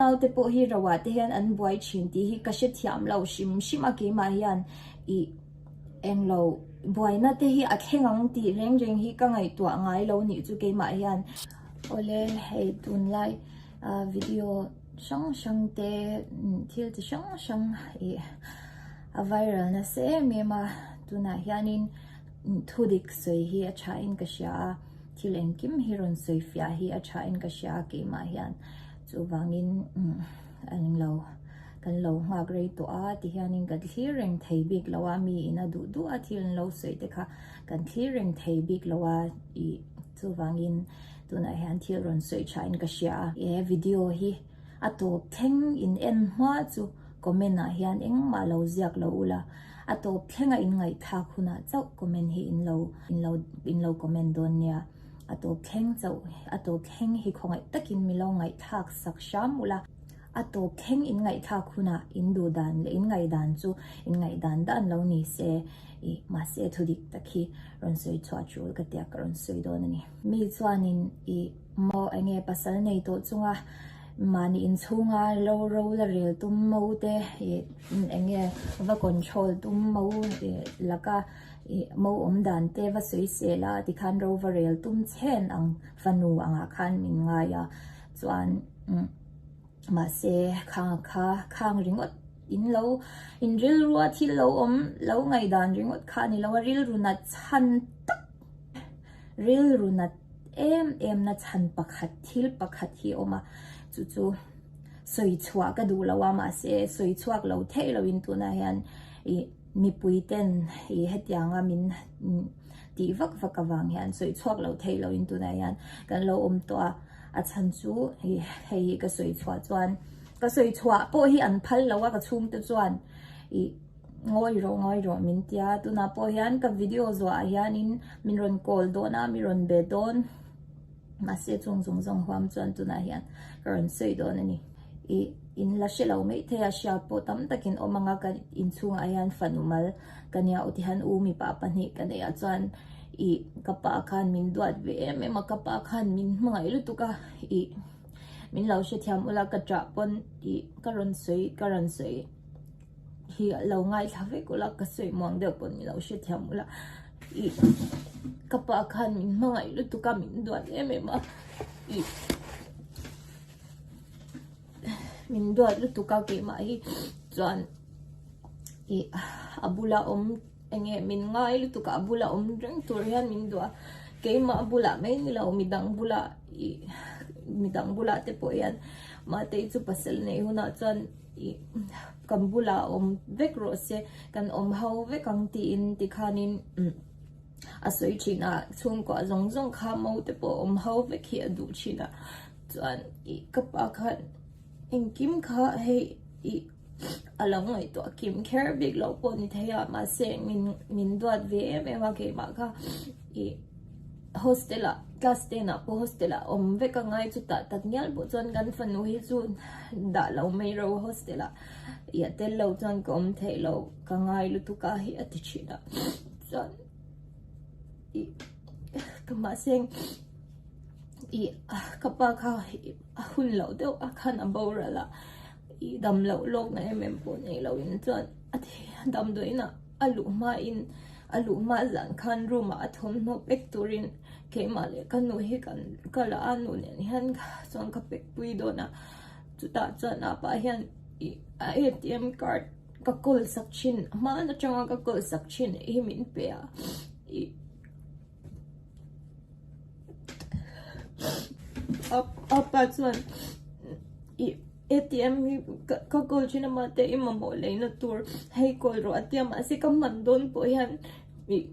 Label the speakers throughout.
Speaker 1: Naute pawh hi rauah te hian an buai thin tih hi ka hre thiam lo hrim hrim a, keimah hian i englo buaina te hi a thleng ang tih reng reng hi ka ngaihtuah ngai lo nih chu keimah hian. Awle hei tunlai video hrang hrang te thil chi hrang hrang i a viral nasa em em a, tunah hianin thu dik sawi hi a tha in ka hria a, thil engkim hi rawn sawi fiah hi a tha in ka hria a keimah hian. Chuvangin a eng lo, kan lo nghak rei tawh a ti hianin kan thlir reng thei bik lo a, mi ina duh duh a thil an lo sawi te kha kan thlir reng thei bik lo a, ih chuvangin tunah hian thil rawn sawi tha in ka hria a. He video hi a tawp thleng in en hma chu comment ah hian engmah lo ziak lo u la, a tawp thlenga in ngaihthak hunah chauh comment hi in lo in lo in lo comment dawn nia. A tawp thleng chauh a tawp thleng hi khawngaih takin mi lo ngaihthlak sak hram ulh a. A tawp thleng in ngaihthlak hunah in duh dan leh in ngai dan chu in ngai dan dan lo ni se i mahse thu dik tak hi rawn sawi chhuah chul ka tia ka rawn sawi dawn a ni. Mi chuanin i maw eng nge pasal nei tawh chunga mahni inchhunga lo ro la rel tum mo te i eng nge va control tum mo laka. Mo awm dan te va sawi sel a ti khan ro va rel tum chhen ang fanu angah khan min ngai a chuan mahse khang kha khang ringawt in lo in rilrua thil lo awm lo ngaidan ringawt kha a ni lo a rilru nat chhan tak rilru nat em em na chhan pakhat thil pakhat hi awm a chu chu sawi chhuah ka duh lo a mahse sawi chhuak lo theih lo in tunah hian ih Mipui ten i hetiang a min tih vak vak avang hian sawi chhuak loh theih lo in tunah hian kan lo awm tawh a, a chhan chu i hei hi ka sawi chhuah chuan ka sawi chhuah pawh hi an phal lo a ka chhung te chuan i ngawi rawh ngawi rawh min tia tunah pawh hian ka video zuah ah hian in min rawn call dawn a min rawn be dawn. Mahse chung zung zawng huam chuan tunah hian ka rawn sawi dawn a ni. I in la hre lo maithei a, hriat pawh tam takin awm ang a, ka in chhungah hian fanu mal ka nia aw tihan u mipa pahnih ka neih ah chuan i ka pa khan min duat ve em em a, ka pa khan min hmangaih lutuk a, i min lo hrethiam ula ka chah pawn i ka rawn sawi ka rawn sawi. hi a lo ngaithla vek ula ka sawi muang deuh pawh nilo hrethiam ula ih ka pa khan min hmangaih lutuk a min duat em em a ih min duat lutuk a keimah hi chuan ih a bula awm enge min ngai lutuk a a bula awm reng tur hian min duah a keimah bulah mai nilo mi dang bulah ih mi dang bulah te pawh hian mahte chu pasal nei hunah chuan Kan bulah awm vek rawh se, kan awm ho vek ang tiin tikhanin a sawi thin a, chhungkua zawng zawng kha mo te pawh awm ho vek hi a duh thin a, chuan ka pa khan engkim kha hei a lo ngaihtuah kim kher bik loh pawh ni thei a, mahse min duat ve em em a keimah kha i hostel ah class ten ah pawh hostel ah awm vek a ngai chuta tak ngial pawh chuan kan fanu hi chu dah lo mai ro hostel ah i a tel lo chuan ka awm theih lo ka ngai lutuk a hi a ti thin a chuan i ka mahseng i ka pa kha a hun loh deuh a khan a boral a. I dam loh lawk na em em pawh nei loin chuan a thi a dam dawiin a a luh hmain a luh hma zan khan room ah a thawmhnaw pek turin keimah leh ka nu hi kan ka la a nu nen hian chuan ka pek pui dawn a chutah chuan apa hian ih a atm card ka kawl sak thin hman atanga ka kawl sak thin ih hi min pe a ih-- Apa chuan, I ATM hi ka call thin a mahte i mamawh leihna tur hei call rawh a tia mahse ka hman dawn pawh hian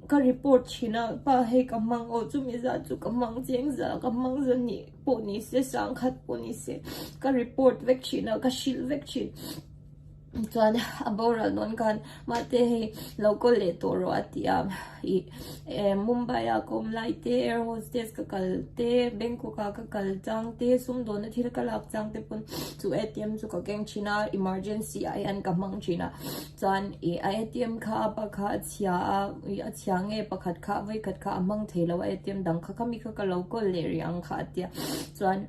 Speaker 1: ka report thin a, pa hei ka hmang aw, chumi zat chu ka hmang chiang za, ka hmang za nih pawh nise, sangkhat pawh nise ka report vek thin a, ka hrilh vek thin. Chuan a boral dawn khan mahte hei lo kawl leh tawh rawh a ti a, ih eh Mumbai a ka awm lai te, air hostess ka kal te, Bangkok a ka kal chang te, sumdawnna thil ka lak chang te pawn chu atm chu ka keng thin a, emergency ah hian ka hmang thin a, chuan ih a atm kha a pa kha a chhia a, ih a chhia nge pakhat kha a vawi khat kha a hmang thei lo a, atm dang kha kha mi kha ka lo kawl leh rih ang kha a ti a, chuan.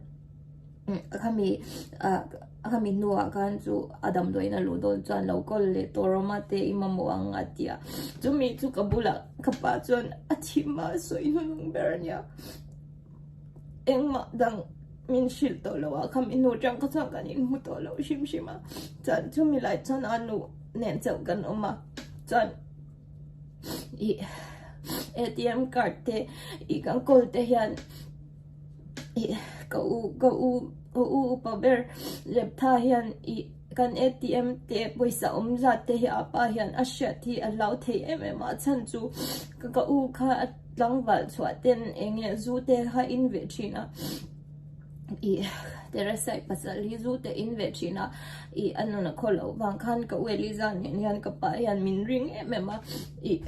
Speaker 1: Ka khami a khami hnuah khan chu a damdawiin a luh dawn chuan lo kawl leh tur awm a teh i mamawh ang a ti a. Chumi chu ka bulah ka pa chuan a thim a, a sawi nunung ber a nia. Engmah dang min hrilh tawh lo a, khami hnu atang kha chuan kan inhmu tawh lo hrim hrim a. Chuan chumi lai chuan a nu nen chauh kan awm a, chuan i atm card te i kan kawl te hian. Ka u, ka u, ka u upa ber lep tha hian ih kan ATM te pawisa awm zat te hi apa hian a hriat hi a hlau thei em em a chhan chu ka u kha a tlangval chhuah ten eng nge zu te kha in ve thin a ih Teresa i pasal hi zu te in ve thin a ih a nun a khaw loh vang khan ka u Eliza nen hian ka pa hian min ring em em a ih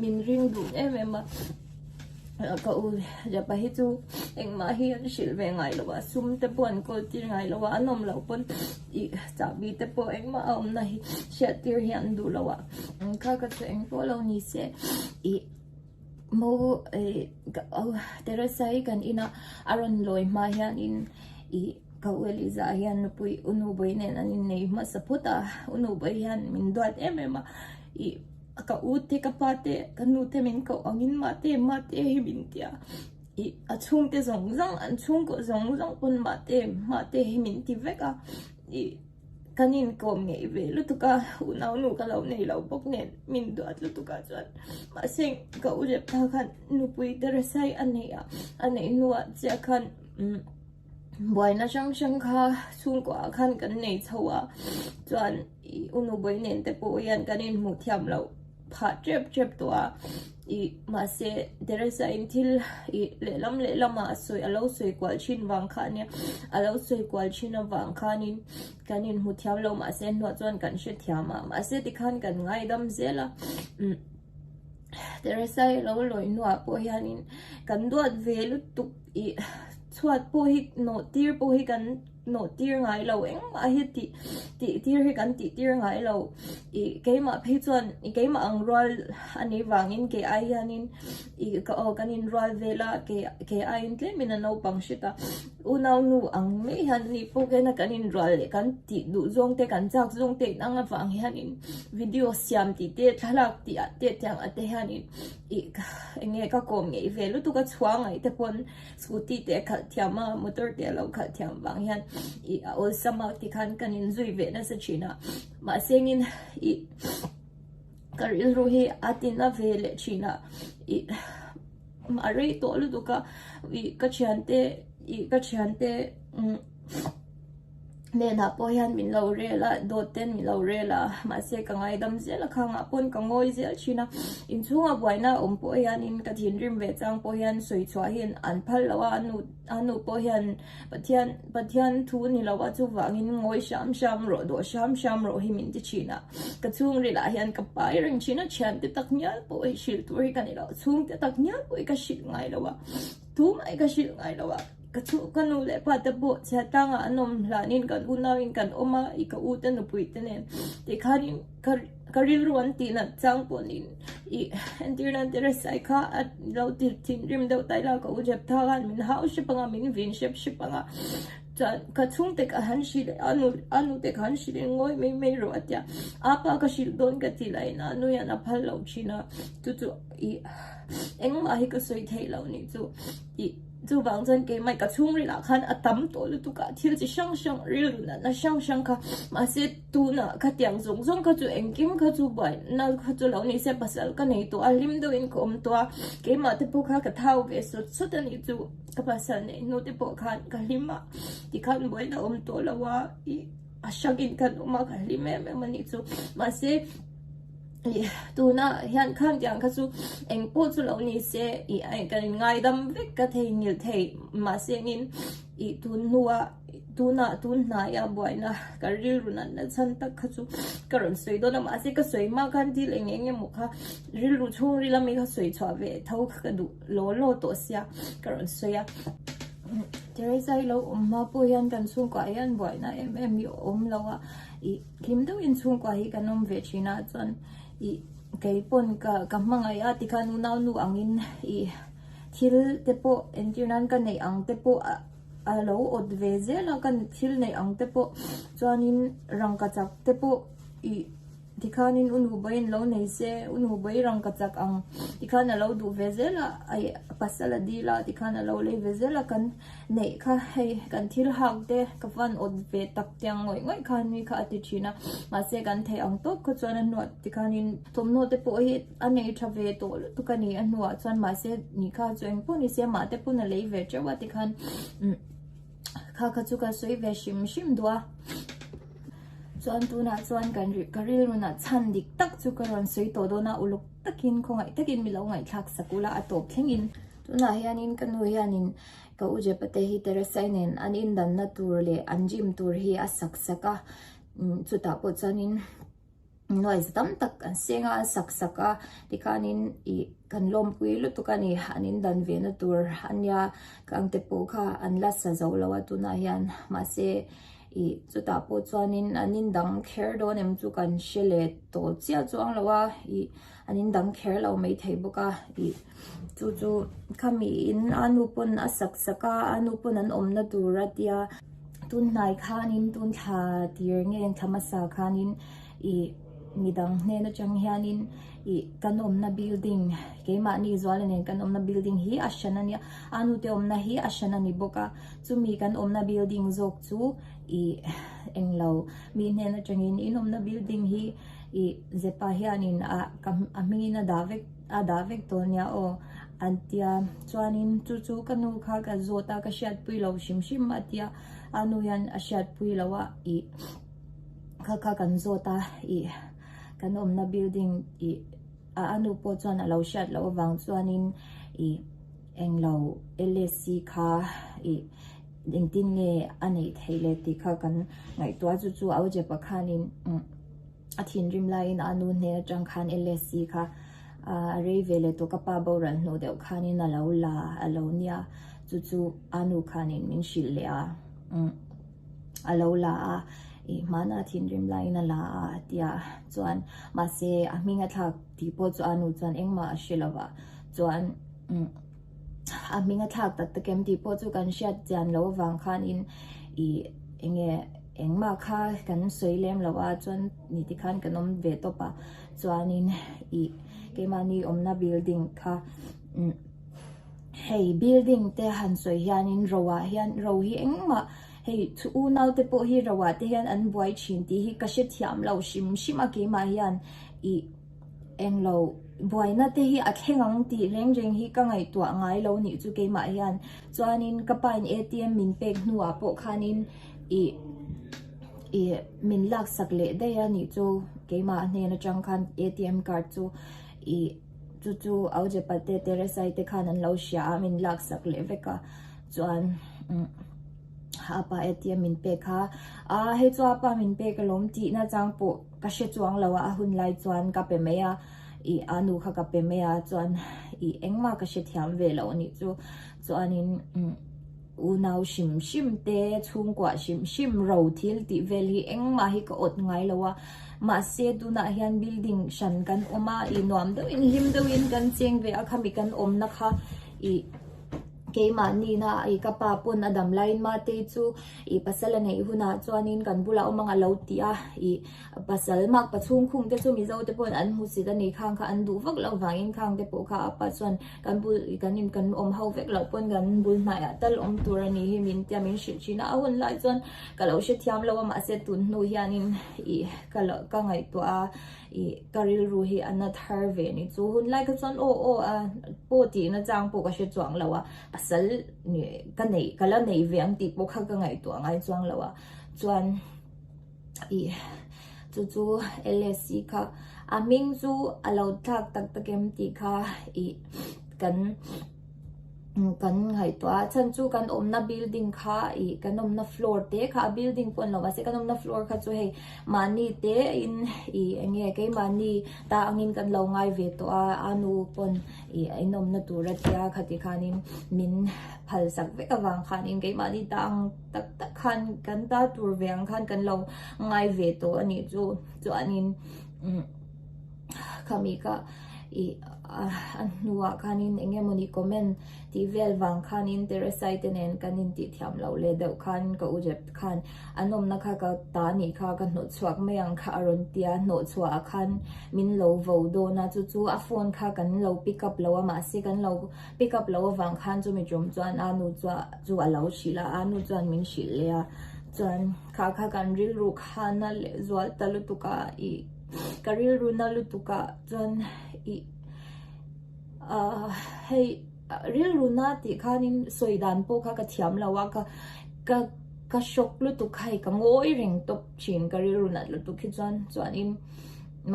Speaker 1: min ring dun em em a. Ka u Japa hi chu engmah hi an hrilh ve ngai lo a, sum te pawh an kawl tir ngai lo a, an awm loh pawn i chahbi te pawh engmah a awmna hi hriat tir hi an duh lo a. Engkha ka chhe eng pawh lo ni se i mo Teresa hi kan ina a rawn lawi hma hian in i ka u Eliza hian nupui u Nubawi nen an innei hmasa phut a, u Nubawi hian min duat em em a i. Ka u te, ka pa te, ka nu te min koh ang in mah te, mah te hi min ti a. I a chhung te zawng zawng, an chhung koh zawng zawng pawn mah te, mah te hi min ti vek a. I kan inkawm ngei ve lutuk a, u naunu ka lo nei lo bawk nen min duat lutuk ah chuan mahse ka u lep ta khan nupui Theresai a nei a. A nei hnu ah chiah khan buaina hrang hrang kha chhung koh ah khan kan nei chho a, chuan. I unu bawi nen te pawh hian kan in hmuh thiam loh phah tep tep tawh a, i mahse Theresa in thil i lehlam lehlam ah a sawi a lo sawi kual thin vang kha nia, a lo sawi kual thin avang khanin kan in hmu thiam loh mahse an hnuah chuan kan hre thiam a, mahse tikhan kan ngaidam zel a, umm Theresa i lo lawih hnuah pawh hianin kan duat ve lutuk i chhuat pawh hi nawhtir pawh hi kan. Nawhtir ngai lo engmah hi tih tih tir hi kan tih tir ngai lo. I keimah phei chuan i keimah ang rual a nei vangin kei ai hianin i ka aw kan inrual vel a, kei kei aiin tlem in a naupang hrit a, unau nu ang mai hian ani pawh kei na kan inrual leh kan tih duh zawng te kan chak zawng te in ang avang hianin video siam tih te thlalak tih ah te tiang ah te hianin i enge ka kawm ngei ve lutuk a chhuangaih te pawn Scooty te a khalh thiam a, motor te a lo khalh thiam vang hian i a awlsam a, tikhan kan in zui ve nasa thin a, mahse ngin i ka rilru hi a tina ve leh thin a, i a rei tawh lutuk a, i ka thiante, i ka thiante umm. Nenah pawh hian min lo rel a, dawt ten min lo rel a, mahse ka ngaidam zel a khang ah pawn ka ngawi zel thin a, inchhungah buaina a awm pawh hianin ka thinrim ve chang pawh hian sawi chhuah hi an phal lo a, a nu pawh hian Pathian Pathian thu ni lo a chuvangin ngawi hram hram rawh, dawh hram hram rawh hi min ti thin a, ka chhungril ah hian ka pa i reng thin a, thiante tak ngial pawh hrilh tur hi ka ni lo, chhungte tak ngial pawh i ka hrilh ngai lo a, tumah i ka hrilh ngai lo a. Ka chhuh ka nu leh pa te pawh chhia tlangah an awm hlanin kan unau in kan awm a, i ka u te nupui te nen tih khan in ka rilru an tih nat chang pawh niin i entirnan Teresai kha a lo ti thin rim deuh ta ila ka u Jeptha khan min hau hrep anga min vin hrep hrep anga chuan ka chhung te kha han hrilh a nu a nu te kha an hrilh in ngawi mai mai rawh a tia apa ka hrilh dawn ka ti la in a nu hian a phal lo thin a chu chu i engmah hi ka sawi theih lo nih chu i Chuvang chuan keimah ka chhungril ah khan a tam tawh lutuk a, thil chi hrang hrang, rilru natna hrang hrang kha, mahse tunah kha tiang zawng zawng kha chu engkim kha chu buai na kha chu lo ni se pasal ka nei tawh a, hlim deuh in ka awm tawh a, keimah te pawh kha ka thau ve sawt sawt a nih chu, ka pasal neih hnu te pawh khan ka hlim a, tikhan buai na awm tawh lo a, i a hrakin kan awm a, ka hlim em em a nih chu, mahse. ih tuna hian khan tiang kha chu eng pawh chu lo ni se ih ai kan in ngaidam vek ka thei ngilh thei mahse angin ih tun hnua tunah tun hnaia buaina kan rilru nat na chhan tak kha chu ka rawn sawi dawn a mahse ka sawi mah khan thil eng eng emaw kha rilru chhung ril ami kha sawi chhuah ve tho kha ka duh lo lo tawh sia ka rawn sawi a Theresa i lo awm mah pawh hian kan chhungkua ah hian buaina em em hi a awm lo a ih. Hlim deuh in chhungkua hi kan awm ve thin ah chuan i kei pawn ka ka hmangaih a tikhan u naunu ang in i thil te pawh entir nan ka neih ang te pawh a lo awt ve zel a ka thil neih ang te pawh chuan in rangkachak te pawh i tikhan in u nu buain lo nei se u nu buai rangkachak ang tikhan a lo duh ve zel a i pasal a dil a tikhan a lo lei ve zel a kan Neih kha, hei kan thil hak te ka van awt ve tak tiang ngawih ngawih kha nui kha a ti thin a, mahse kan theih ang tawp kha chuan a hnuah ti khan in thawmhnaw te pawh hi a nei tha ve tawh lutuk a ni, a hnuah chuan mahse ni kha chu engpawh ni se mah te pawn a lei ve teuh a ti khan umm kha kha chu ka sawi ve hrim hrim duh a, chuan tunah chuan kan rilh ka rilru na chhan dik tak chu ka rawn sawi tawh dawn a, uluk takin khawngaih takin milo ngaihthlak sak ula a tawp thleng in tunah hian in ka nu hian in. Ka u Jep te hi Teresa-i nen an indanna tur leh an rim tur hi a sak sak a, chutah pawh chuanin noise tam tak an seng a, an sak sak a, tikhanin ih kan lawmpui lutuk a ni, an indan ve na tur a nia, ka angte pawh kha an la sa zo lo a tunah hian, mahse ih chutah pawh chuanin an indang kher dawn em chu kan hre leh tawh chiah chuang lo a, ih. an in dang kher lo mai thei bawk a ih chu chu khami in a nu pawn a sak sak a a nu pawn an awmna tur a tia tunhnai khan in tun thla tir nge thla hmasa khan in ih mi dang hnen a tang hian in ih kan awmna building keimahni zuala nen kan awmna building hi a hran a nia a nu te awmna hi a hran a ni bawk a chu mi kan awmna building zawk chu ih englo mi hnen a tang in in awmna building hi I zepa hianin ah ka a hmingin a dah vek a dah vek tawh nia aw an tia chuanin chu chu ka nu kha ka zawt a ka hriatpui lo hrim hrim a tia a nu hian a hriatpui lo a ih kha kha kan zawt a ih kan awmna building ih a a nu pawh chuan a lo hriat loh avang chuanin ih eng lo LAC kha ih engtin nge a neih theih le tih kha kan ngaihtuah a chu chu auzepa khanin umm. A thinrim laiin a nu hneh atang khan LSC kha a rei ve leh tawh ka pa boral hnu deuh khanin a lo la a lo nia chu chu a nu khanin min hrilh leh a a lo la a i hmana a thinrim laiin a la a a ti a chuan mahse a hming a thlak tih pawh chu a nu chuan engmah a hre lovah chuan. a hming a thlak tak takin tih pawh chu kan hriat chian loh avang khan in ih eng nge engmah kha kan sawi lem loh a chuan ni te khan kan awm ve tawp a chuanin ih keimahni awmna building kha umm hei building te han sawi hianin ro ah hian ro hi engmah hei chhu unau te pawh hi ro ah te hian an buai thin tih hi ka hre thiam lo hrim hrim a keimah hian ih-- Englo buaina te hi a thleng ang tih reng reng hi ka ngaihtuah ngai lo nih chu keimah hian chuanin ka pain atm min pek hnuah pawh khanin ih ih min laksak leh daih a nih chu keimah hnen atang khan atm card chu ih chu chu aujepa te teresai te khan an lo hria a min laksak leh vek a chuan a pa atm min pek kha a hei chu a pa min pek alawm tihna chang pawh Ka hre chuang lo a, a hun lai chuan ka pe mai a, ih a nu kha ka pe mai a chuan ih engmah ka hrethiam ve loh anih chu, chuanin unau hrim hrim te, chhungkuah hrim hrim, ro thil tih vel hi engmah hi ka awt ngai lo a, mahse tunah hian building hran kan awm a, ih nuam deuhin hlim deuhin kan cheng ve a khami kan awmna kha ih. Keimahnihnah i ka pa pawn a dam laiin Matei chu i pasal a neih hunah chuanin kan bulah awm ang a lo ti a. I pasal mak pa chhungkhungte chu Mizo te pawhin an hmu sit a ni. Khang kha an duh vak loh vangin Khang te pawh kha a pa chuan kan bul i kan in kan awm ho vek loh pawn kan bul hnaiah tal awm tur a nih hi min tia min hrilh thin a. A hun lai chuan ka lo hre thiam lo a mahse tun hnu hianin i ka lo ka ngaihtuah a. I ka rilru hi a nat har ve ni chu. Hun lai kha chuan aw aw a, paw tihna chang pawh ka hre chuang lo a, pasal ka neih, ka la neih ve ang tih pawh kha ka ngaihtuah ngai chuang lo a. Chuan i chu chu LSC kha a hming chu a lo tlak tak tak em tih kha i kan. Kan ngaihtuah a chhan chu kan awmna building kha ih kan awmna floor te kha a building pawh an lo mahse kan awmna floor kha chu hei mahni te in ih eng nge keimahni ta angin kan lo ngai ve tawh a, a nu pawn ih a inawmna tur a tia kha ti khanin min phalsak vek avang khanin keimahni ta ang tak tak khan kan ta tur ve ang khan kan lo ngai ve tawh a nih chu chuanin. ka mi kah i a hnuah khanin eng nge mawni comment tih vel vang khanin Teresai te nen kan in tih thiam loh leh deuh khan ka u rep khan an awmna kha ka ta anih kha ka hnawh chhuak mai ang kha a rawn tia hnawh chhuah ah khan min lo vo dawn a chu chu a phone kha kan lo pick up lo a mahse kan lo pick up lo avang khan chu mi tawm chuan a nu chu chu a lo hrih la a nu chuan min hrih leh a chuan kha kha kan rilru khan a leh zual ta lutuk a i ka rilru na lutuk ah chuan i ah hei rilru na tih khan in sawi dan pawh kha ka thiam lo a ka ka ka shock lutuk kha hei ka ngawi reng tawp thin ka rilru nat lutuk hi chuan chuan in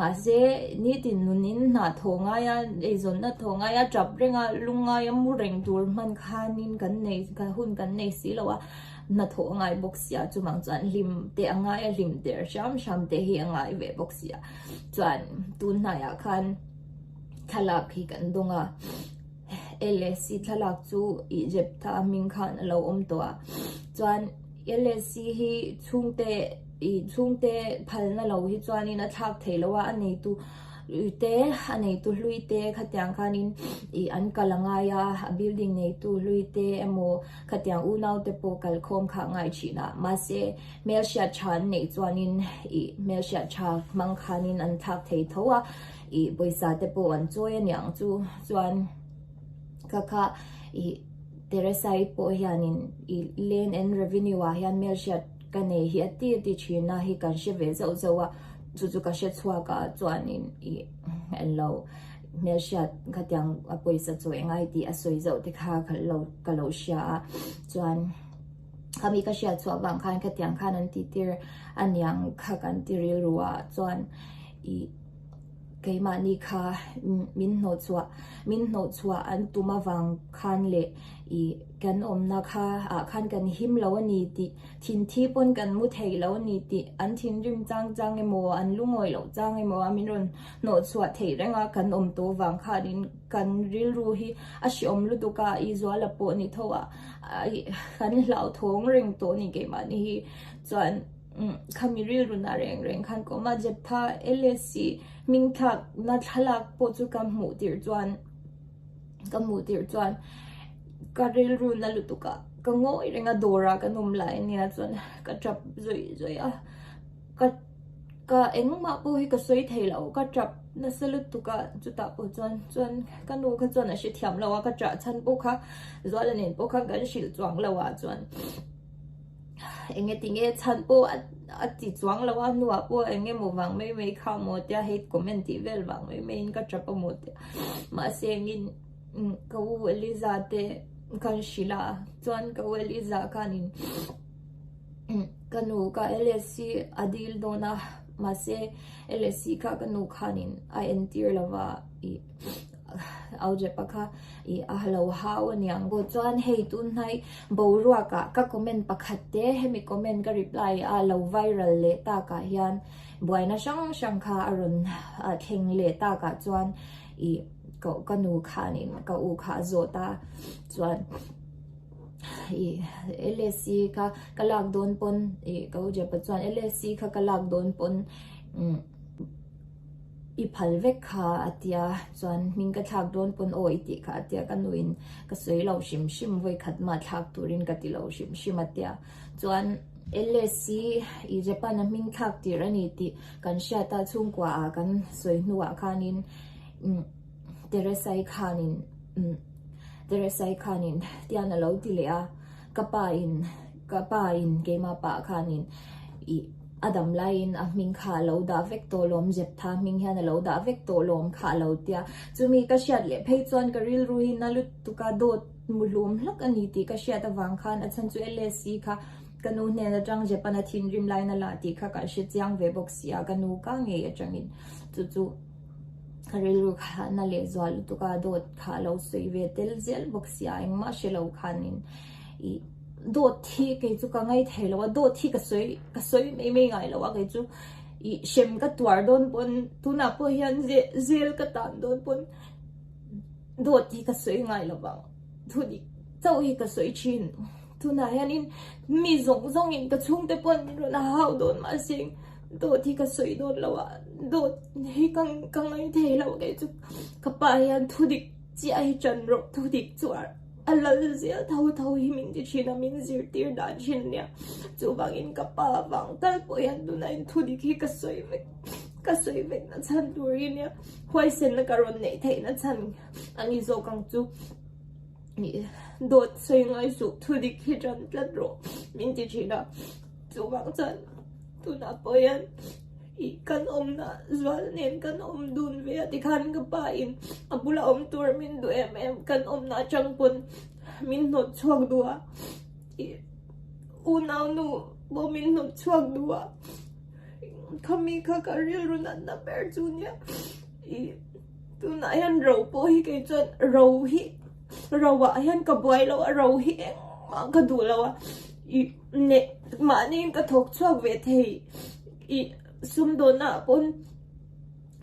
Speaker 1: mahse nitin nun in hna tho ngai a eizawn na tho ngai a tap reng a lungngai a mu reng tur hman khan in kan nei hun kan nei si lo a Hnathawh a ngai bawk si a, chuvang chuan hlim te a ngai a, hlim der hram hram te hi a ngai ve bawk si a. Chuan tunhnaiah khan thlalak hi kan dawng a, LAC thlalak chu Ijeptha hming khan a lo awm tawh a, chuan LAC hi chhungte ih chhungte phalna lo hi chuanin a thlak thei lo a, a neitu te a neitu hlui te khatiang khanin ih an kal a ngai a, a building neitu hlui te emaw, Khatiang unaute pawh kalkhawm kha ngaichhinah mahse hmelhriat tha an neih chuanin ih hmelhriat tha hmang khanin an thlak thei tho a, ih pawisa-te pawh an chawi a niang chu. Chuan ka kha ih Teresa-i pawh hianin ih Land and Revenue-ah hian hmelhriat ka nei hi a ti a ti thinna hi kan hre ve zauh zauh a, chu chu ka hre chhuakah chuanin ih an lo. hmelhriat khatiang a pawisa chawi ngai tih a sawi zauh te kha khalh lo ka lo hria a chuan khami ka hria chhuah vang khan khatiang khan an ti tir a niang kha kan ti rilru a chuan i keimahni kha min hnawh chhuah min hnawh chhuah an tum avang khan leh i kan awmna kha ah khan kan him lo a ni tih thin thi pawn kan mu thei lo a ni tih an thinrim chang chang emaw an lungawih loh chang emaw a min rawn Hnawhchhuah theih renga kan awm tawh vang khanin kan rilru hi a hreawm lutuk a, i zuala pawh ni tho a, kan hlauhthawng reng tawh ni keimahni hi chuan khami rilrunah reng reng khan ka awm a, Jephtha LAC hmingthlakna thlalak pawh chu ka hmuh tirh chuan ka hmuh tirh chuan ka rilru na lutuk a, ka ngawi reng a, dawrah kan awm lai ania chuan ka tap zawih zawih a. Ka ka engmah pawh hi ka sawi thei lo, ka ṭap nasa lutuk a, chutah pawh chuan chuan ka nu kha chuan a hre thiam lo a, ka ṭah chhan pawh kha Zuala nen pawh kha kan hrilh chuang lo a chuan enge ti nge chhan pawh a ti chuang lo a, a hnua pawh eng nge maw vang mai mai kha maw tia hate comment tih vel vang mai mai in ka ṭap a maw tia mahse engin ka u Eliza te khan hrilh a, chuan ka u Eliza khanin. Ka nu ka LSC a dil dawn a, mahse LSC kha ka nu khanin a entir lo va, ih, Aujepa kha ih a lo hau a niang. Pawh chuan hei tunhnai boruakah ka comment pakhat te hemi comment ka reply a lo viral leh takah hian buaina hrang hrang kha a rawn thleng leh takah chuan ih, ka nu khanin ka u kha a zawt a, chuan. ih LSC kha ka lak dawn pawn ih ka ujepa chuan LSC kha ka lak dawn pawn umm i phal vek kha a tia chuan hming ka thlak dawn pawn aw i tih kha a tia ka nu in ka sawi lo hrim hrim vawi khat mah thlak tur in ka ti lo hrim hrim a tia chuan LSC ih Japan a hming thlak tir a ni tih kan hriat a chhungkua ah kan sawi hnu ah khan in umm Teresai khanin umm Teresai khanin tian a lo ti leh a, ka pa in ka pa in keimah pah khanin ih a dam laiin a hming kha a lo dah vek tawh lawm, Jeptha hming hian a lo dah vek tawh lawm kha a lo ti a, chumi ka hriat leh phei chuan ka rilru hi na lutuk a dawt hmu hlum hlak a ni tih ka hriat avang khan a chhan chu LSE kha ka nu hnen atang Jepan a thinrim lai na la tih kha ka hre chiang ve bawk si a, ka nu ka ngei atangin chu chu. Ka rilru kha na leh zua lutuk a, dawt kha a lo sawi ve tel zial bawk sia, engmah hre lo khan in i dawt hi kei chu ka ngai thei lo a, dawt hi ka sawi ka sawi mai mai ngai lo a, kei chu i hrem ka tuar dawn pawn tunah pawh hian zel ka tan dawn pawn dawt hi ka sawi ngai lo vang, thu dik chauh hi ka sawi thin, tunah hian in mi zawng zawng in ka chhungte pawh an rawn hau dawn mah se. Dawt hi ka sawi dawt lo a, dawt hi ka ka ngaih thei loh ngei chu ka pa hian thudik chiah hi chan rawh, thudik chu a lal zel tho tho hi min ti thin a, min zirtir dan thin a nia. Chuvangin ka pa vang tal pawh hian tunain thudik hi ka sawi vek ka sawi vek na chhan tur hi nia, huaisenna ka rawn neih theih na chhan a ni zawk ang chu. Dawt sawi ngai suh thudik hi chan tlat rawh min ti thin a. Chuvang chuan tunah pawh hian ih kan awmna zual nen kan awm dun ve a tikhan ka pa in a bula awm tur min duh em em kan awmna atang pawn min hnawt chhuak duh a ih u naunu pawh min hnawt chhuak duh a khami kha ka rilru natna ber chu nia ih tunah hian ro pawh hi kei chuan ro hi ro ah hian ka buai lo a ro hi engmah ka duh lo a ih Neh, mahniin ka thawk chhuak ve thei i, sumdawnah pawn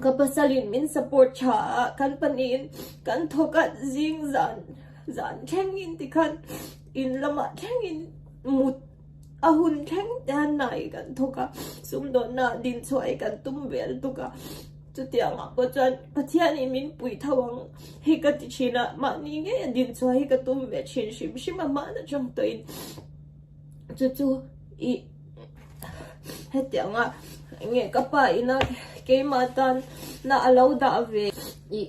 Speaker 1: ka pasalin min support tha a, kan pahnihin kan thawkat zing zan zan thlengin ti khan in lamah thlengin mut a hun thleng te han nai kan thawk a, sumdawnah dinchhuah hi kan tum ve lutuk a. Chutianga pawh chuan Pathian i min pui tho ang hi ka ti thin a, mahni ngei a din chua hi ka tum ve thin hrim hrim a, mahna tang tawhin chu chu i hetianga nge ka pa ina keima tan na a lo dah ve i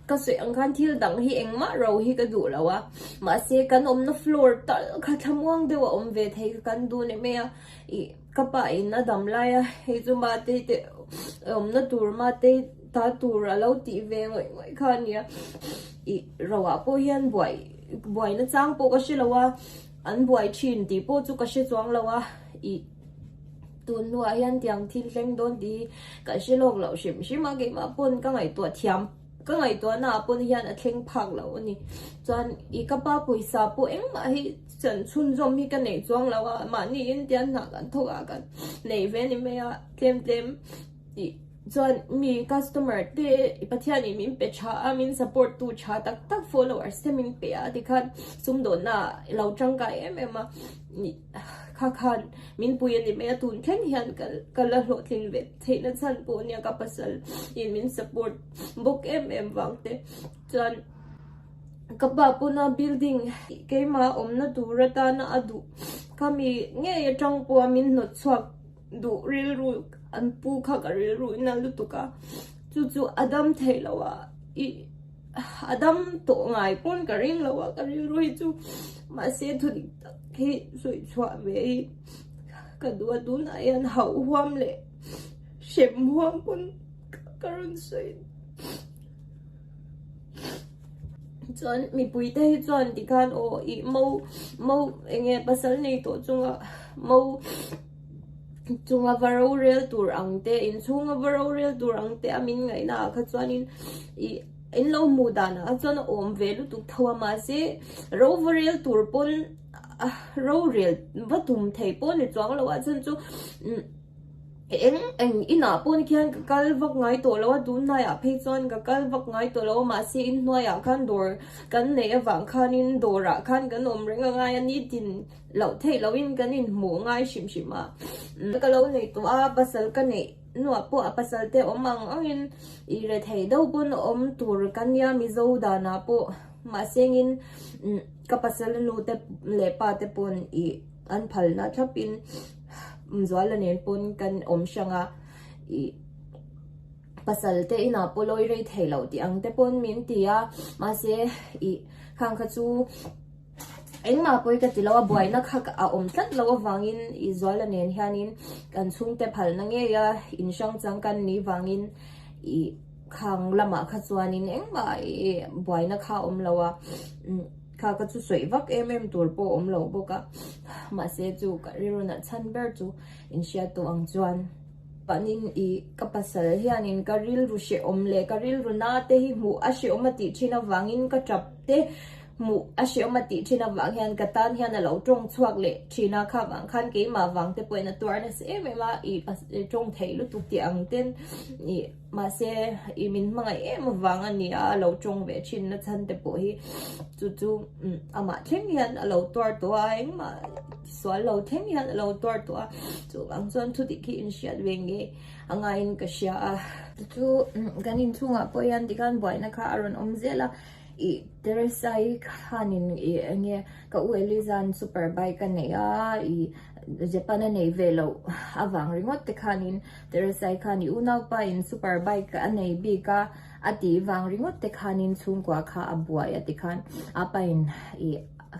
Speaker 1: ka sawi ang khan thil dang hi engmah ro hi ka duh lo a, mahse kan awmna floor tal kha thlamuang deuh a awm ve thei kha kan duh nem e a, i. Ka pa in a dam lai a, hei chu Matei te awmna tur Matei ta tur a lo tih ve ngawih ngawih kha a nia. Ih, Roah pawh hian buai, buai na chang pawh ka hre lo a, an buai thin tih pawh chu ka hre chuang lo a, ih, tun hnuah hian tiang thil hleng dawn tih hi kan hre lawk loh hrim hrim a, keimah pawn ka ngaihtuah thiam. Ka ngaihtuahna ah pawn hian a thleng phak loh a ni. Chuan i ka pa pawisa pawh engmah hi chan chhunzawm hi ka neih chuang lo a, mahni in tian hnah kan thawk ah kan neih ve ni mai a, tlem tlem tih chuan mi customer te i Pathian in min pe tha a, min support tu tha tak tak followers te min pe a tikhan sumdawhna ah lo tangkai em em a kha khan min pui a ni mai a, tun thleng hian ka la hlawhtlin ve. Theihna chhan pawh nia ka pasal i min support bawk em em vang te chuan ka pa pawnah building keimah a awmna tur atana a duh kami ngei atang pawha min hnawt chhuak duh rilru an pu kha ka rilru i nalh lutuk a chu chu a dam theih loh a i a dam tawh ngai pawn ka ring lo a ka rilru hi chu mahse thudik tak hi sawi chhuah ve i. Ka duh tunah hian hauh huam leh hrem huam pawn ka rawn sawi a. Chuan mipui te hi chuan tikhan aw i mo mo eng nge pasal nei tawh chunga mo chunga va ro rel tur ang te inchhunga va ro rel tur ang te a min ngaih naah kha chuanin i in lo hmuh danah kha chuan a awm ve lutuk tho a mahse ro va rel tur pawn rorel va tum thei pawh ni chuang lo a chhan chu eng eng inah pawn khian ka kal vak ngai tawh lo a tunlai ah phei chuan ka kal vak ngai tawh lo a mahse in hnuai ah khan dawr kan neih avang khan in dawr ah khan kan awm reng a ngai a ni tin loh theih lo in kan in hmuh ngai hrim hrim a ka lo nei tawh a pasal ka neih nuah pawh a pasal te awm ang ang in i re thei deuh pawn awm tur ka nia mizo dan ah pawh. Mahse engin ka pasal nu te leh pa te pawn i an phal na thlap in Zual la nen pawn kan awm hrang a, i pasal te inah pawh lawi rei thei lo tih ang te pawn min ti a, mahse i khang kha chu engmah pawhin ka ti lo a buai na kha a awm tlat lo avang in i Zual la nen hian in kan chhungte phal na ngei a, in hrang chang kan ni vang in i. Khang lamah kha chuanin engmah buaina kha awm lo a, kha ka chu sawi vak em em tur pawh awm lo bawk a. Mahse chu ka rilrunah chhan ber chu in hriat tawh ang chuan panin i ka pasal hianin ka rilru hrehawm leh ka rilru na te hi hmuh a hrehawm a tih thin avangin ka tap te hmuh a hrehawm a tih thin avang hian ka tan hian a lo tawng chhuak leh thin a, kha vang khan keimah vang te pawhin a tuar nasa em em a, i tawng theih lutuk tih ang ten i. Mahse, i min hmangaih em avang a nia a lo tawng ve thinna chante pawh hi chu chu amah thleng hian a lo tuar tawh a, engmah tisual lo thleng hian a lo tuar tawh a, chuvang chuan chutih khi inhriat ve ngei a ngaiin ka hria a. Chu chu kan inchhungah pawh hian tikhan buaina kha a rawn awm zel a, i Teresa-i khanin i eng nge ka u Eliza-n super bike a neih a, i Japan a nei ve loh avang ringawt te khanin, Teresai khan i unaupa in super bike a nei bik a, a tih vang ringawt te khanin chhungkua kha a buai a ti khan apa in i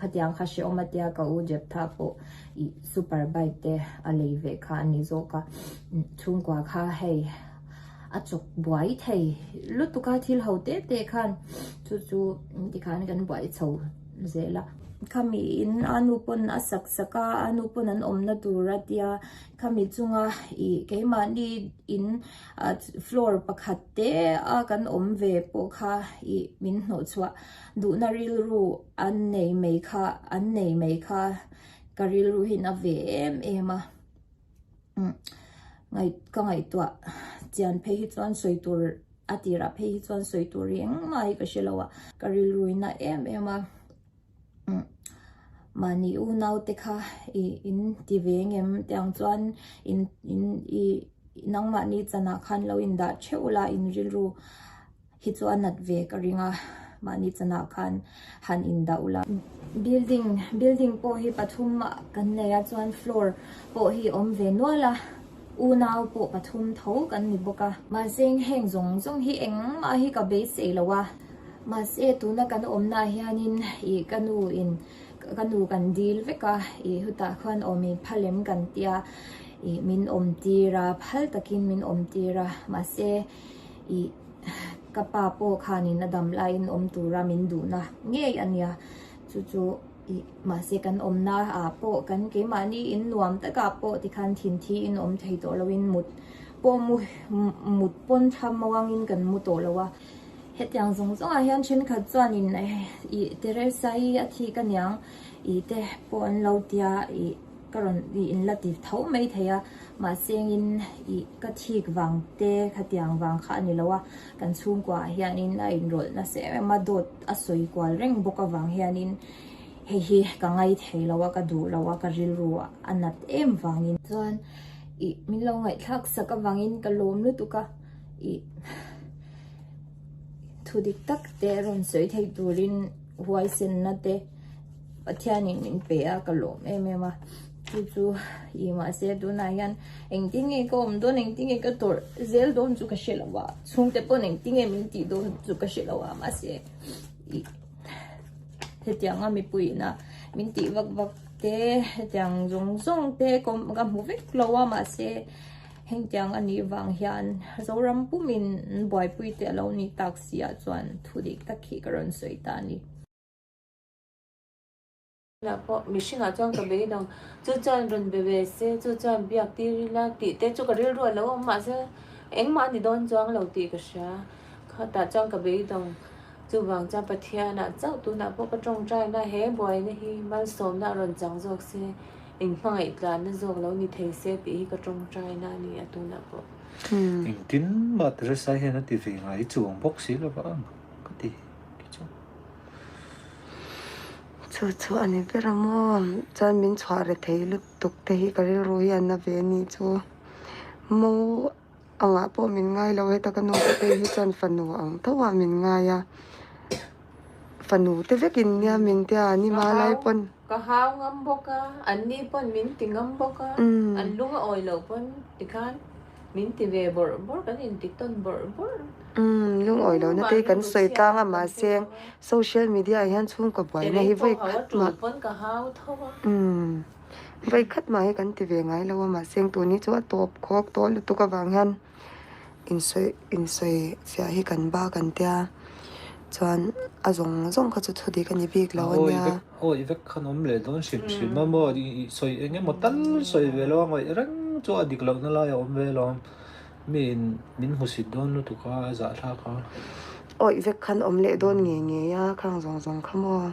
Speaker 1: khatiang kha hreawm a tia ka u Jeptha pawh i super bike te a lei ve kha a ni zawk a, chhungkua kha hei a chawk buai thei lutuk a thil ho te te khan chu chu tikhan kan buai chho zel a. Khami in a nu pawn a sak sak a, a nu pawn an awmna tur a tia. Khami chunga ih keimahni in floor pakhat te a kan awm ve pawh kha ih min hnawh chhuah. Duhna rilru an nei mai kha, an nei mai kha ka rilru hi'n a ve em em a. Ngaih, ka ngaihtuah chian phei hi chuan sawi tur, a tirah phei hi chuan sawi tur eng mah hi ka hre lo a, ka rilruin a em em a. Mahni u naute kha i in ti ve ngem tiang chuan in in i nangmah ni chanah khan lo in dah theuh la in rilru hi chu a nat ve ka ring a mahni chanah khan han in dah ula building building pawh hi pathum ah kan nei a chuan floor pawh hi awm ve nual a u nau pawh pathum tho kan ni bawk a mahse heng zawng zawng hi engmah hi ka beisei lo a. Mahse, tuna kan awmnaah hianin ih ka nu in ka nu kan dil vek a, ih hutah khan awm in pha lem kan tih a, ih min awm tir a, phal takin min awm tir a, mahse ih ka pa pawh khan in a dam laiin awm tura min duhna ngei a nia, chu chu ih mahse kan awmna ah pawh kan keimahni in nuam takah pawh ti khan thin thi in awm thei tawh loin mut pawh mu mut pawn tham mawngin kan mu tawh lo a. Hetiang zawng zawngah hian thenkhat chuanin ih Teresa-i a thi ka niang ih te pawh an lo ti a, ih ka rawn ih in la ti tho mai thei a, mahse engin ih ka thik vang te khatiang vang kha a ni lo a, kan chhungkuaah hianin a inrawlh nasa em em a, dawt a sawi kual reng bawk avang hianin hei hi ka ngai thei lo a, ka duh lo a, ka rilru a nat em vangin chuan ih min lo ngaihthlak sak avangin ka lawm lutuk a. i thudik tak te rawn sawi theih turin huaisenna te pathianin min pe a ka lawm em em a chu chu i mahse tunah hian engti nge ka awm dawn engti nge ka tawrh zel dawn chu ka hre lo a chhungte pawn engti nge min tih dawn chu ka hre lo a mahse i hetianga mipui ina min tih vak vak te hetiang zawng zawng te ka hmu vek lo a mahse Heng tiang a nih vang hian Zoram pum in buaipui te a lo ni tak si ah chuan thu dik tak khi ka rawn sawi ta a ni. Tunah pawh mihring ah chuan ka beidang chu chuan rawn be ve se chu chuan biak tir ila tih te chu ka rilruah lo awm mah se engmah a ni dawn chuang lo tih ka hria. Khawtah chuan ka beidang chu vang chuan Pathian ah chauh tunah pawh ka tawngtai na he buai na hi malsawm na a rawn chang zawk se. Eng hmangaih tlanna zawk lo ni thei se tih hi ka tawngtaina a ni a tunah pawh. Engtin mah Teresa hian a ti ve ngai i chuang bawk si lo va ang ka ti khi chu. Chu chu a ni ber a maw? Chuan min chhuah rethei lutuk te hi ka rilru hian a ve a nih chu. Mo. Angah pawh min ngai lo, heta ka nu te pawh hi chuan fanu ang thoa min ngai a, fanu te vekin nia min tia an i mal lai pawn. Ka hau ngam bawk a, anni pawn min ti ngam bawk a, an lung a awi lo pawn tikhan min ti ve bawr bawr, kan inti tawn bawr bawr. Lung awi lo nate kan sawi tlang a mahse social media ah hian chhungkaw buaina hi vawi khat mah. Vawi khat mah hi kan ti ve ngai lo a, mahse heng tuni chu a tawp khawk tawh lutuk avang hian insawi insawi fiah hi kan ba kan tia chuan a zawng zawng kha chu chhudik a ni bik lo a nia. Hawi vek khan awm leh dawn hrim hrim a, maw sawi eng emaw tal sawi ve lo a, ngawih reng chu a dik lohna lai a awm ve lo. Mi in min hmusit dawn lutuk a, a zahthlak a. Awih vek khan awm leh dawn ngei ngei a, khang zawng zawng kha maw.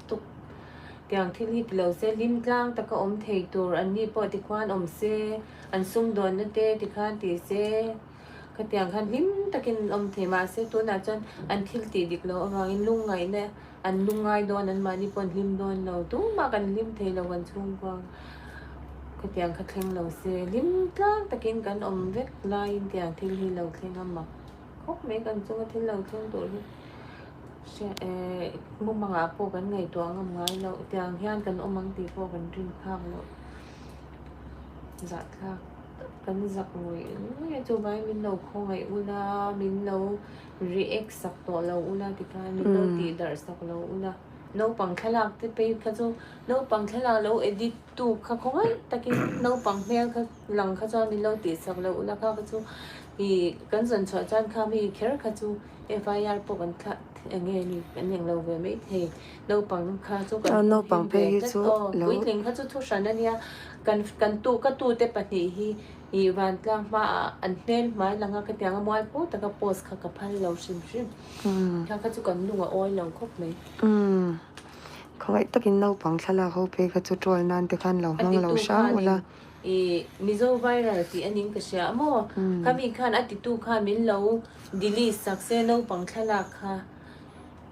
Speaker 1: tuk tiang thil hi tilo se hlim tlang taka awm thei tur an ni pawh tikhuan awm se an sumdawn nute tikhan ti se khatiang khan hlim takin an awm thei mahse tunah chuan an thil tih dik loh avangin lungngaihna an lung ngai dawn an mahni pawh an hlim dawn lo tumah kan hlim thei lo kan chhungkua khatiang kha thleng lo se hlim tlang takin kan awm vek laiin tiang thil hi lo thleng a mak khawp mai kan chunga thil lo thleng tur hi Mumangah pawh kan ngaihtuah ngam ngai loh, tiang hian kan awm ang tih pawh kan rin thlak loh. Zahthlak kan zak ngawih ngawih a chuvai min lo khawngaih un a, min lo react sak tawh lo un a tikhan min lo tih darh sak lo un a. Naupang thlalak te phei kha chu, naupang thlalak lo edit tu kha khawngaih takin naupang hmel kha lang kha chuan min lo tih sak loh un a, kha kha chu ih kan zawn chhuah chuan kha mi kher kha chu. FIR pawh kan thlah thei ang e ni kan eng lo ve maithei naupang kha chu kan naupang phe hi chu lo puitling kha chu thu hran a nia kan kan tu ka tu te pahnih hi i vantlang hma ah an hmel hmai lang a ka tiang a mual put taka post kha ka phal lo hrim hrim khang kha chu kan lung a awi lo khawp mai khawgaih takin naupang thlalak ho phei kha chu trawl nan te khan lo hmang lo hrang ula. I Mizo viral tih aning ka hria a maw? Khami khan a titu kha min lo delete sak se naupang thlalak kha.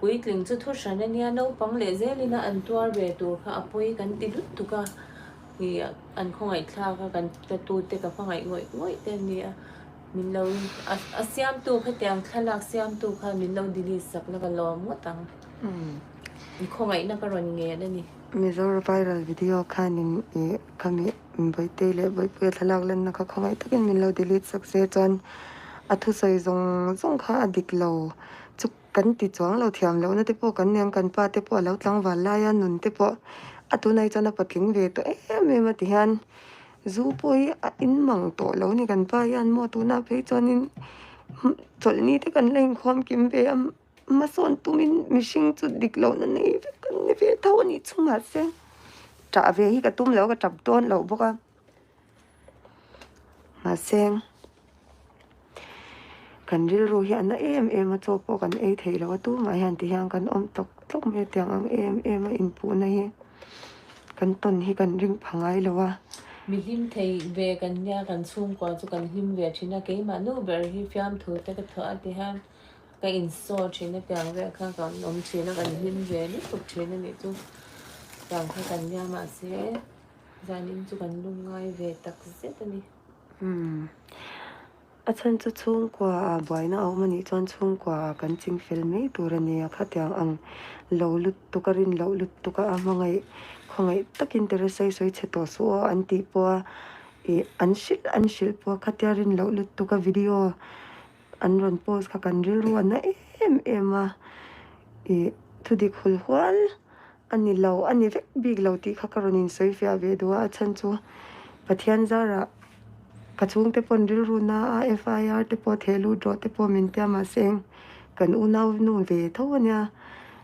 Speaker 1: Puitling chu thu hran ania naupang leh zel ina an tuar ve tur kha a pawi kan ti lutuk a. I an khawngaihthlak a kan ka tu te ka hmangaih ngawih ngawih te ania min lo a siam tu kha tiang thlalak siam tu kha min lo delete sak la ka lawm ngawt ang. I khawngaih na ka rawn ngen ani. Mizoram viral video khan in i kha mi Bawihtei leh Bawipuia thlalak lanna kha khawngaih takin min lo delete sak se chuan a thusawi zawng zawng kha a dik lo. Chu kan ti chuang lo thiam loh na te pawh kan nen kan pa te pawh a lo tlangval lai a nun te pawh a tunah hi chuan a patling ve tawh em em a ti hian zu pawh hi a in mang tawh lo ni kan pa hian maw tunah phei chuan in chawlh ni te kan la in khawm kim ve a. Hmasawn tumin mihring chu dik lohna nei vek an ni ve tho a nih chu mahse tah ve hi ka tum lo ka tap dawn lo bawk a mahse kan rilru hi a na em em a chaw pawh kan ei theih lo a tumah hian ti hian kan awm tawk tawk mai a tiang ang em em a inpuhna hi kan tawn hi kan ring pha ngai lo a. Mi hlim thei ve kan nia kan chhungkua chu kan hlim ve thin a keimah nu ber hi fiamthu te ka thawh a ti hian Ka install thin a piang vel kha kan awm thin a kan hlim ve lutuk thin a nih chu piang kha kan nia mahse zan in chu kan lung ngai ve tak zet a ni. Hmm a chhan chu chhungkua ah buaina a awm a nih chuan chhungkua ah kan ching fel mai tur a nia khatiang ang lo lutuk a rin loh lutuk a a hmangaih khawngaih tak in Teresa'i sawi chhe tawh suh aw an tih pawh a ih an hrilh an hrilh pawh khatia rin loh lutuk a video An rawn post kha kan rilruan na em em a, ih thudik hul hual ani lo ani vek bik lo tih kha ka rawn insawi fiah ve duh a, a chhan chu Pathian zara ka chhungte pawn rilru na a FIR te pawh theh lut rawh te pawh min tia mahse eng kan unau nu ve tho ania.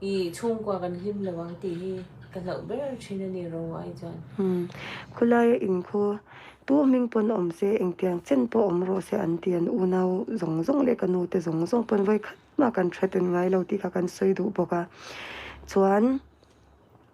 Speaker 1: I chhungkua kan hlim lo ang tih hi ka hlauh ber thin a ni ro ai chuan. Umm, khulaia inkhu tu hming pawn awm se, engtiang chen pawh awm rawh se an ti an unau zawng zawng leh ka nute zawng zawng pawn vawi khat mah kan threaten ngai lo tih kha kan sawi duh bawk a. Chuan.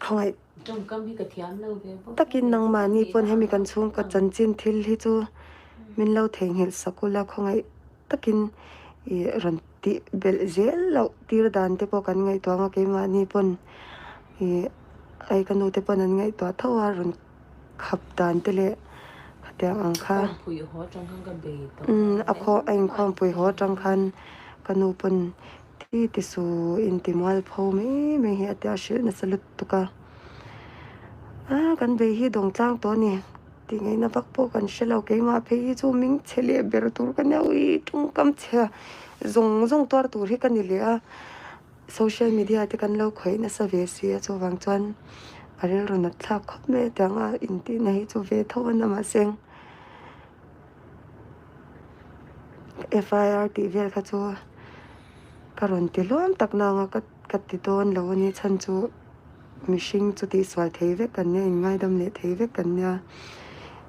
Speaker 1: Khawngaih takin nangmahni pawn hemi kan chhungkaw chanchin thil hi chu min lo theihnghilh sak ula, khawngaih takin ih rawn tih belh zel loh tir dan te pawh kan ngaihtuah ang a, keimahni pawn ih aii ka nute pawn an ngaihtuah tho a, rawn. Khap dan te leh khatiang ang kha a khaw a in khawmpui haw atang khan ka nu pawn ti ti su in ti mual pho mai mai hi a tia a hrilh nasa lut tuk a. A kan bei hi dawng tlang tawh a ni tih ngei na vak pawh kan hrelo keimah phei hi chu ming chhe leh ber tur ka neu i ṭawngkam chhe zawng zawng tuar tur hi ka ni leh a. Social media te kan lo khawih nasa ve si a, chuvang chuan a rilru nat thlak khawp mai ati ang a, intihna hi chu ve tho a na mah se. FIR tih vel kha chu ka rawn ti hlawm tak na ang a, ka ti dawn lo a ni chhan chu. Mihring chu tih sual thei vek kan nia, inngaidam leh thei vek kan nia.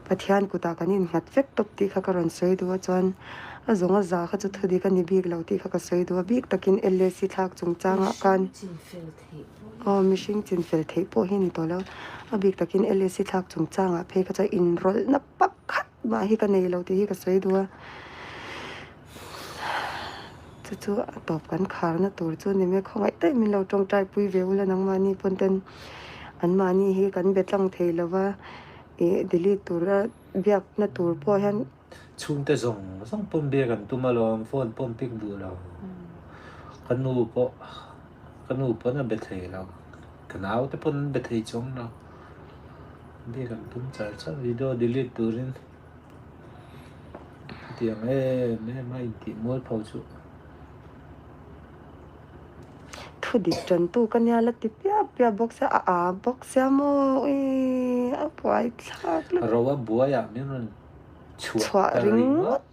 Speaker 1: Pathian kutah kan innghat vek tawp tih kha ka rawn sawi duh a, chuan a zawnga za kha chu thudik a ni bik lo tih kha ka sawi duh a. Bik takin LAC thlak chungchangah khan, aw mihring chin fel theih pawh hi a ni tawh lo, a bik takin LAC thlak chungchangah phei kha chuan inrawlhna pakhat Mah hi ka nei lo tih hi ka sawi duh a, chu chu a tawp kan kharna tur chu ni mek khawngaih daih min lo tawng Taipui ve ula nangmahni pawn ten an mahni hi kan be tlang thei lo va, ih delete tura biakna tur pawh hian. Chhungte zawng zawng pawm biak an tum alawm, phone pawh an pik duh lo, ka nu pawh ka nu pawn a be thei lo. Ka nau te pawn an be thei chuang lo. Bik an tum char char. Video delete turin hetiang em em a intih mual pho chu. Thu dik tantu ka nia la ti piah piah bawk se a a bawk sia maw i a buai thlak lutuk. Ro a buai ah min rawn chhuah ta ringawt.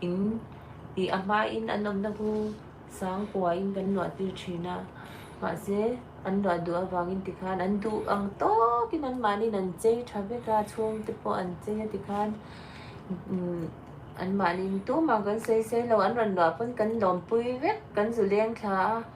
Speaker 1: in tih a hmain an awmna hnu sangkua in kan luahtir thin a, mahse an luah duh avangin tikhan an duh ang tawkin anmahniin an chei tha vek a, chhungte pawh an chei a tikhan anmahniin tumah kan sawi sailo an rawn luah pawn kan lawmpui vek kan zu leng thla a.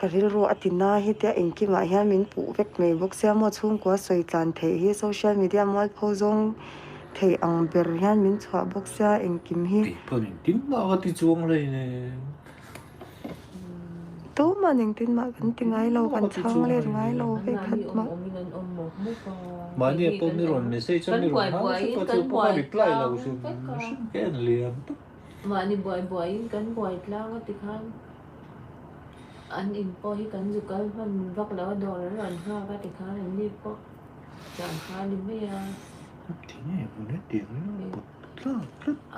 Speaker 1: ka rilru a tina hete a inkimah hian min puh vek mai bawk sia maw chhungkua sawi tlan theih hi social media mual pho zawng theih ang ber hian min chhuah bawk sia engkim hi tuma'n engtin mah kan ti ngai lo kan chhang let ngai lo vek khat mah mahni ah pawh mi rawn message a mi rawn hang vek a chu pawh ka reply lo hrim hrim ke a ni leh ang. Mahni buai buaiin kan buai tlang a tikhan an in pawh hi kan zu kal hman vak lo a, dawr a rawn nghak a tikhan an ni pawh chang kha a ni mai a.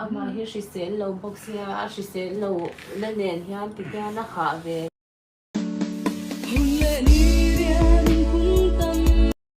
Speaker 1: Amah hi hrisel lo bawk sia, a hrisel lo na nen hian ti hian a hah ve.